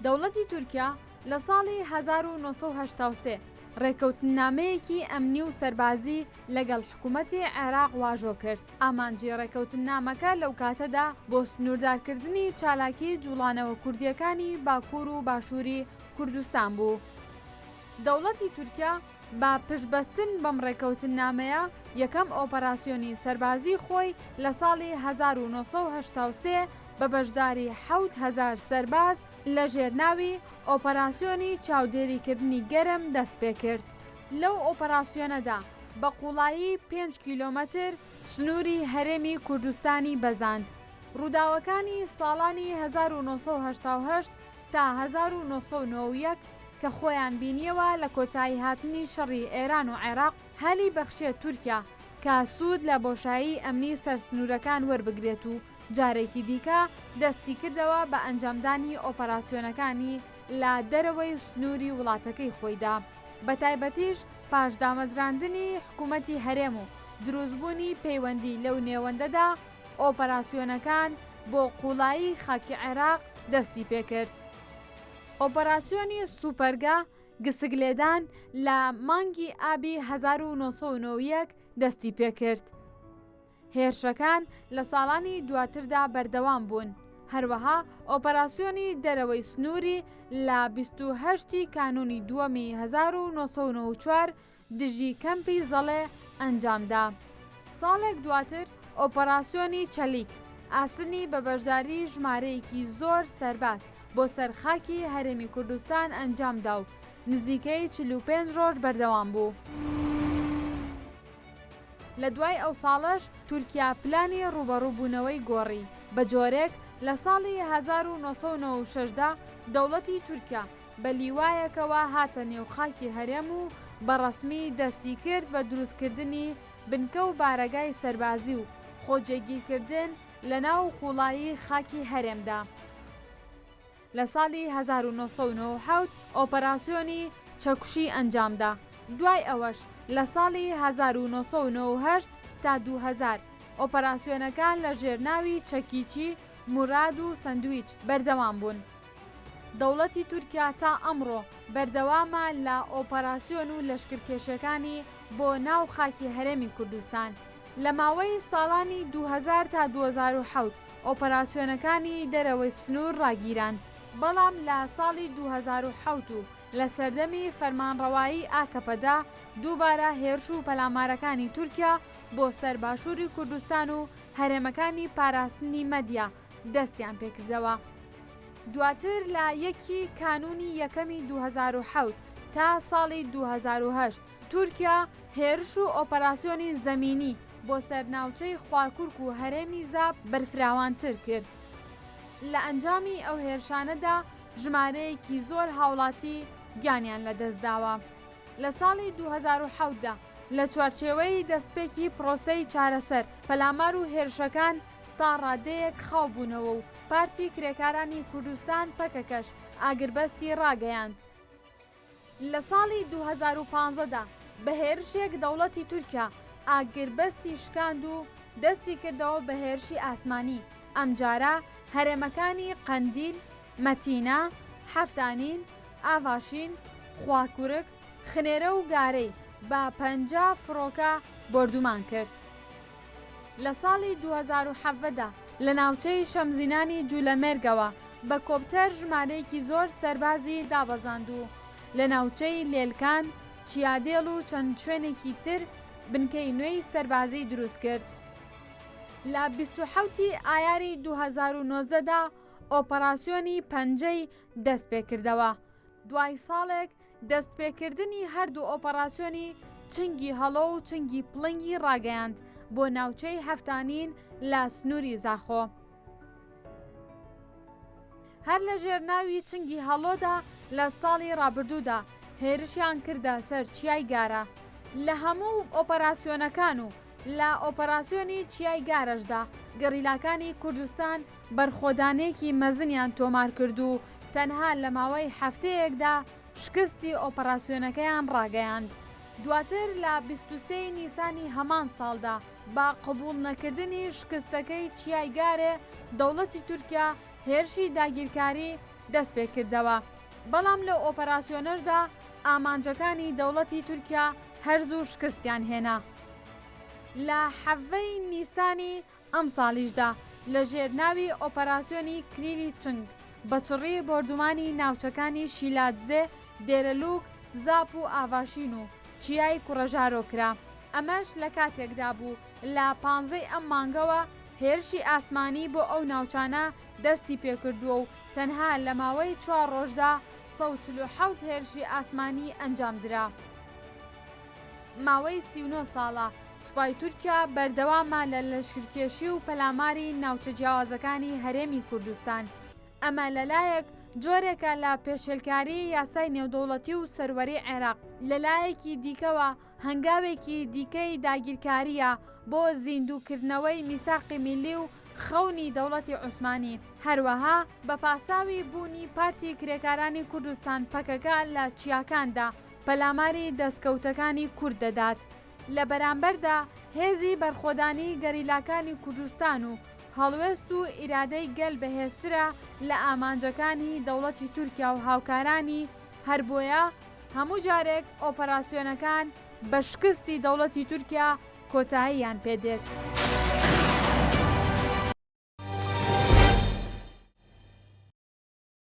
دەوڵەتی تورکیا لە ساڵی هەزار و نۆ سەد و هەشتا و سێ ڕێکەوتننامەیەکی ئەمنی و سەربازی لەگەڵ حکوومەتی عێراق واژۆ کرد، ئامانجی ڕێکەوتننامەکە لەو کاتەدا بۆ سنووردارکردنی چالاکی جووڵانەوە کوردییەکانی باکوور و باشووری کوردستان بوو. دەوڵەتی تورکیا بە پشتبەستن بەم ڕێکەوتننامەیە، یەکەم ئۆپەراسیۆنی سەربازیی خۆی لە ساڵی هەزار و نۆ سەد و هەشتا و سێ بە بەشداری حەوت هەزار سەرباز لە ژێر ناوی ئۆپەراسیۆنی چاودێریکردنی گەرم دەست پێ کرد. لەو ئۆپەراسیۆنەدا بە قووڵایی پێنج کیلۆمەتر سنووری هەرێمی کوردستانی بەزاند. ڕووداوەکانی ساڵانی هەزار و نۆ سەد و هەشتا و هەشت تا هەزار و نۆ سەد و نۆ و یەک کە خۆیان بینیەوە لە کۆتایی هاتنی شەڕی ئێران و عێراق هەلی بەخشیە تورکیا کە سود لە بۆشایی ئەمنی سەر سنورەکان وەربگرێت و جارێکی دیکە دەستی کردەوە بە ئەنجامدانی ئۆپەراسیۆنەکانی لە دەرەوەی سنوری وڵاتەکەی خۆیدا بە تایبەتیش پاش دامەزراندنی حکومەتی هەرێم و دروست بونی پەیوەندی لەو نێوەندەدا ئۆپەراسیۆنەکان بۆ قوڵایی خاکی عێراق دەستی پێکرد. ئۆپەراسیۆنی سوپەرگە گسک لێدان لە مانگی ئابی هەزار و نۆ سەد و نۆ و یەک دەستی پێکرد. هێرشەکان لە ساڵانی دواتردا بەردەوام بوون. هەروەها ئۆپەراسیۆنی دەرەوەی سنووری لە بیست و هەشت ی کانوونی دووەمی هەزار و نۆ سەد و نۆ و چوار دژی کەمپی زەڵێ ئەنجامدا. ساڵێک دواتر ئۆپەراسیۆنی چەلیک ئاسنی بە بەشداری ژمارەیەکی زۆر سەرباز بۆ سەر خاکی هەرێمی کوردستان ئەنجامدا و نزیکەی چل و پێنج ڕۆژ بەردەوام بوو. لە دوای ئەو ساڵەش تورکیا پلانی ڕووبەڕووبوونەوەی گۆڕی بە جۆرێک لە ساڵی هەزار و نۆ سەد و نەوە و شەش دا دەوڵەتی تورکیا، بە لیوایەکەوە هاتە نێو خاکی هەرێم و بە ڕەسمی دەستی کرد بە دروستکردنی بنکە و بارەگای سەربازی و خۆجێگیرکردن لە ناو قووڵایی خاکی هەرێمدا. لە ساڵی هەزار و نۆ سەد و نۆ و حەوت ئۆپەراسیۆنی چەکوشی ئەنجامدا. دوای ئەوەش لە ساڵی هەزار و نۆ سەد و نۆ و هەشت تا دوو هەزار ئۆپەراسیۆنەکان لە ژێرناوی چەکیی موراد و سەندویچ بەردەوام بوون. دەوڵەتی تورکیا تا ئەمڕۆ بەردەوامە لە ئۆپەراسیۆن و لەشکرکێشیەکانی بۆ ناو خاکی هەرێمی کوردستان لە ماوەی ساڵانی دوو هەزار تا دوو هەزار و حەوت ئۆپەراسیۆنەکانی دەرەوەی سنور ڕاگیران بەڵام لە ساڵی دوو هەزار و حەوت و لە سەردەمی فەرمانڕەوایی ئاکەپەدا دووبارە هێرش و پەلامارەکانی تورکیا بۆ سەر باشوری کوردستان و هەرێمەکانی پاراستنی مەدیا دەستیان پێکردەوە دواتر لە یەکی کانونی یەکەمی 2007 تا ساڵی 2008 تورکیا هێرش و ئۆپەراسیۆنی زەمینی بۆ سەر ناوچەی خواکورک و هەرێمی زاپ بەرفراوانتر کرد لە ئەنجامی ئەو هێرشانەدا ژمارەیەکی زۆر هاوڵاتی گیانیان لەدەستداوە لە ساڵی 2017دا لە چوارچێوەی دەستپێکی پرۆسەی چارەسەر پەلامار و هێرشەکان تا ڕادەیەک خاو بوونەوە و پارتی کرێکارانی کوردستان، پەکەکەش، ئاگربەستی ڕاگەیاند. لە ساڵی دوو هەزار و پازدە دا بە هێرشێک دەوڵەتی تورکیا ئاگربەستی شکاند و دەستی کردەوە بە هێرشی ئاسمانی، ئەمجارە هەرێمەکانی قەندیل، مەتینا، حەفتانین، ئاڤاشین، خواکورک، خنێرە و گارەی بە پەنجا فڕۆکە بۆردومان کرد. لە ساڵی دوو هەزار و حەڤدە دا لە ناوچەی شەمزینانی جولەمێرگەوە بە کۆپتەر ژمارەیەکی زۆر سەربازی دابەزاند و لە ناوچەی لێلکان، چیادێڵ و چەند شوێنێکی تر بنکەی نوێی سەربازی دروست کرد. لە بیست و حەوت ی ئایاری دوو هەزار و نۆزدە دا ئۆپەراسیۆنی پەنجەی دەست پێکردەوە، دوای ساڵێک دەستپێکردنی هەردوو ئۆپەڕاسیۆنی چنگی هەڵۆ و چنگی پڵنگی ڕاگەیاند بۆ ناوچەی هەفتانین لە سنووری زاخۆ. هەر لە ژێر ناوی چنگی هەڵۆدا لە ساڵی ڕابردوودا هێرشیان کردە سەر چیای گارە. لە هەموو ئۆپەراسیۆنەکان و لە ئۆپەراسیۆنی چیای گارەشدا گەریلاکانی کوردستان، بەرخۆدانێکی مەزنیان تۆمارکرد و تەنها لەماوەی هەفتەیەکدا شکستی ئۆپەراسیۆنەکەیان ڕاگەیاند. دواتر لە بیست و سێ ی نیسانی هەمان ساڵدا، بە قبوڵنەکردنی شکستەکەی چیای گارێ، دەوڵەتی تورکیا هێرشی داگیرکاری دەستپێکردەوە، بەڵام لەو ئۆپەراسیۆنەشدا ئامانجەکانی دەوڵەتی تورکیا هەر زوو شکستیان هێنا. لە حەڤەی نیسانی ئەمساڵیشدا لە ژێر ناوی ئۆپەراسیۆنی کلیلی چنگ بە چڕی بۆردومانی ناوچەکانی شیلادزێ، دێرەلوک، زاپ و ئاڤاشین و چیای کوڕەژارۆ کرا. ئەمەش لە کاتێکدا بوو لە پانزە ی ئەم مانگەوە هێرشی ئاسمانی بۆ ئەو ناوچانە دەستی پێکردووە و تەنها لە ماوەی چوار ڕۆژدا سەد و چل و حەوت هێرشی ئاسمانی ئەنجامدرا. ماوەی سی و نۆ ساڵە سوپای تورکیا بەردەوامە لە لەشکرکێشی و پەلاماری ناوچە جیاوازەکانی هەرێمی کوردستان، ئەمە لەلایەک جۆرێکە لە پێشێلکاری یاسای نێودەوڵەتی و سەروەری عێراق، لەلایەکی دیکەوە هەنگاوێکی دیکەی داگیرکارییە بۆ زیندووکردنەوەی میساقی میللی و خەونی دەوڵەتی عوسمانی، هەروەها بە پاساوی بوونی پارتی کرێکارانی کوردستان، پەکەکە، لە چیاکاندا. پەلاماری دەستکەوتەکانی کورد دەدات، لە بەرامبەردا هێزی بەرخۆدانی گەریلاکانی کوردستان و هەڵوێست و ئیرادەی گەل بەهێزترە لە ئامانجەکانی دەوڵەتی تورکیا و هاوکارانی، هەر بۆیە هەموو جارێک ئۆپەراسیۆنەکان بە شکستی دەوڵەتی تورکیا کۆتاییان پێ دێت.